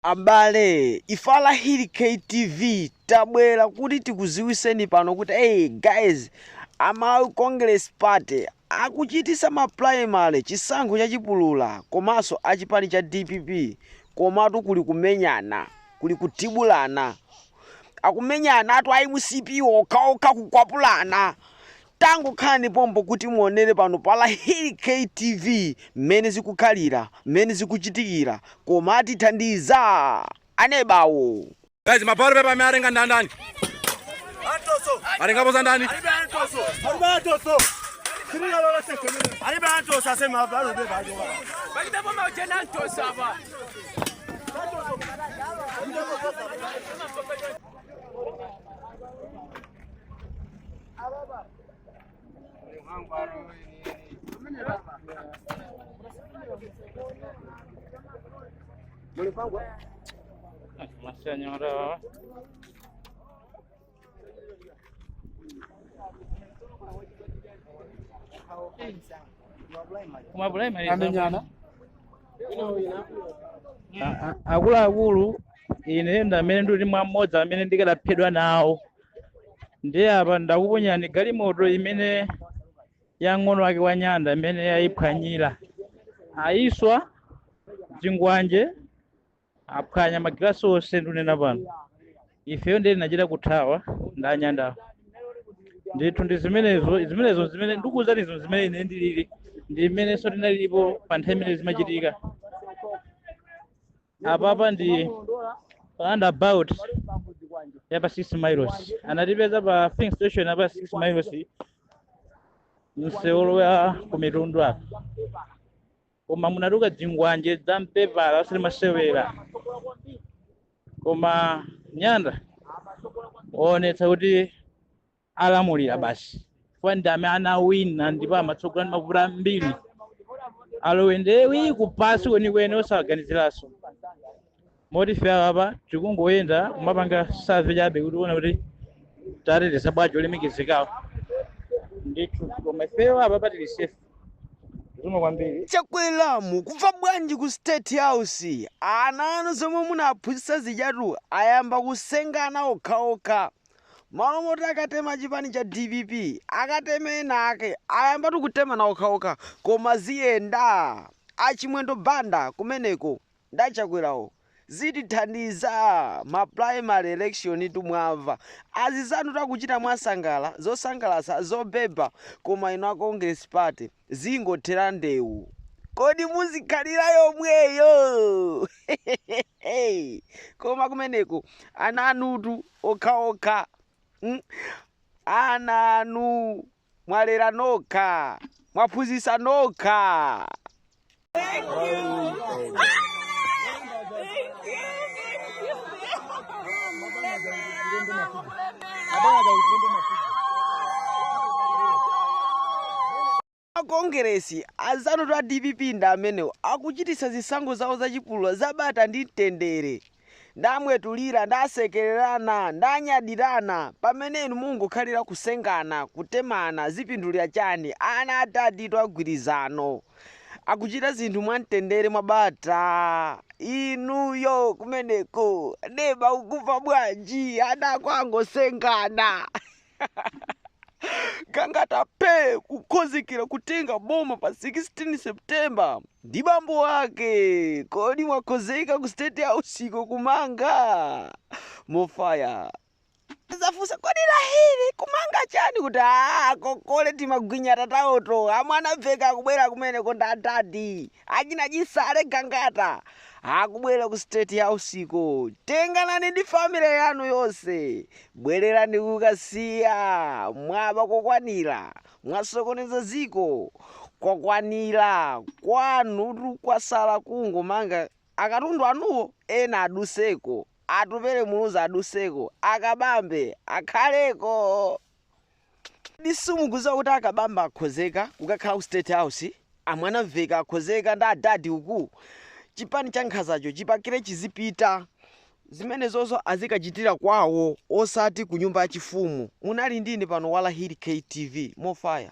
Abale ife a Lahiri K TV tabwera kuti tikuziwiseni pano kuti hey guys a Malawi Congress Party akuchitisa ma primary chisankho cha chipulula komanso a chipani cha dpp komatu kuli kumenyana kuli kuthibulana akumenyanatu a mcp okhaokha kukwapulana Tangokhalani pompo kuti muonere pano pa Lahiri K TV mmene zikukhalira, mmene zikuchitikira, koma atithandiza anebawo. Guys, ma ballot paper awerenga ndani? Atengapo za ndani? La señora. Uma problema isso. amenyana A- a- akuluakulu ine ndi amene ndili mwa mmodzi amene ndikadaphedwa nawo ndiye apa ndakuponyerani galimoto imene ya mng'ono wake wa nyanda imene yayiphwanyira ayiswa dzingwanje aphwanya magilasi onse ndunena pano ifeyo ndiye tinachita kuthawa ndi anyandawo ndithu ndi zimenezo zimenezo zimene ndikuwuzani izo zimene ine ndilili ndi imenenso tinalilipo pa nthawi imene zimachitika apapa ndi roundabout yapa 6 miles anatipeza pa filling station yapa 6 miles msewu wolowa kumitundu apa koma munatuka dzingwanje dza mpepala osati masewera koma nyanda awonetsa kuti alamulira basi chifukwa ndi amene anawina ndipo amatsogola ndi mavoti ambiri a Lowe ndiye ali kupansi kwenikweni osaganiziranso moti ife apa tikungoyenda kumapanga survey chabe kuti tione kuti tateteza bwanji olemekezekawo ndithu koma ifeyo apapa tili safe zikomo kwambiri chakwera mukumva bwanji ku state house ana anu zomwe munaphunzitsa zijatu ayamba kusengana okhaokha malo moti akatema chipani cha dpp akateme ena ake ayambatu kutemana okhaokha koma ziyenda achimwendo banda kumeneko ndachakwerawo zitithandiza ma primary election tu mwamva azizanutu akuchita mwasangala zosangalatsa zobeba koma inu a congress party Zingothera ndewu kodi muzikhalira yomweyo koma kumeneko ana anutu okhaokha mm? ana anu mwalera nokha mwaphunzitsa nokha akongeresi azanutu a dpp ndi amenewo akuchititsa zisankho zawo zachipulula zabata ndi mtendere ndamwetulira, ndasekererana, ndanyadirana, pamene inu mungokhalira kusengana, kutemana, zipindulira chani ana adaditu agwirizano, akuchita zinthu mwamtendere, mwabata? Inuyo kumeneko neba ukuva bwanji? Ana ako angosengana. gangata pe kukhozekera kutenga boma pa 16 september ndi bambo wake kodi mwakhozeka ku state houseko kumanga more fire zafunsa kodi lahiri kumanga chani kuti akokole timagwinya tatawoto amwanamvekha akubwera kumeneko nda adadi achina chisale gangata akubwera ku state houseko tenganani ndi family yanu yonse Bwelerani ku kasiya mwaba kokwanila mwasokoneza ziko kwakwanila kwanutu kwasala kungomanga akatundu anuwo ena aduseko atupele muluzi aduseko akabambe akhaleko. Kodi simukuziwa kuti akabambe akhozeka kukakhala ku state house amwanamvekha akhozeka ndi adadi uku chipani cha nkhazacho chipakile chizipita zimenezozo azikachitila kwawo osati kunyumba yachifumu munali ndine pano walahili ktv more fire.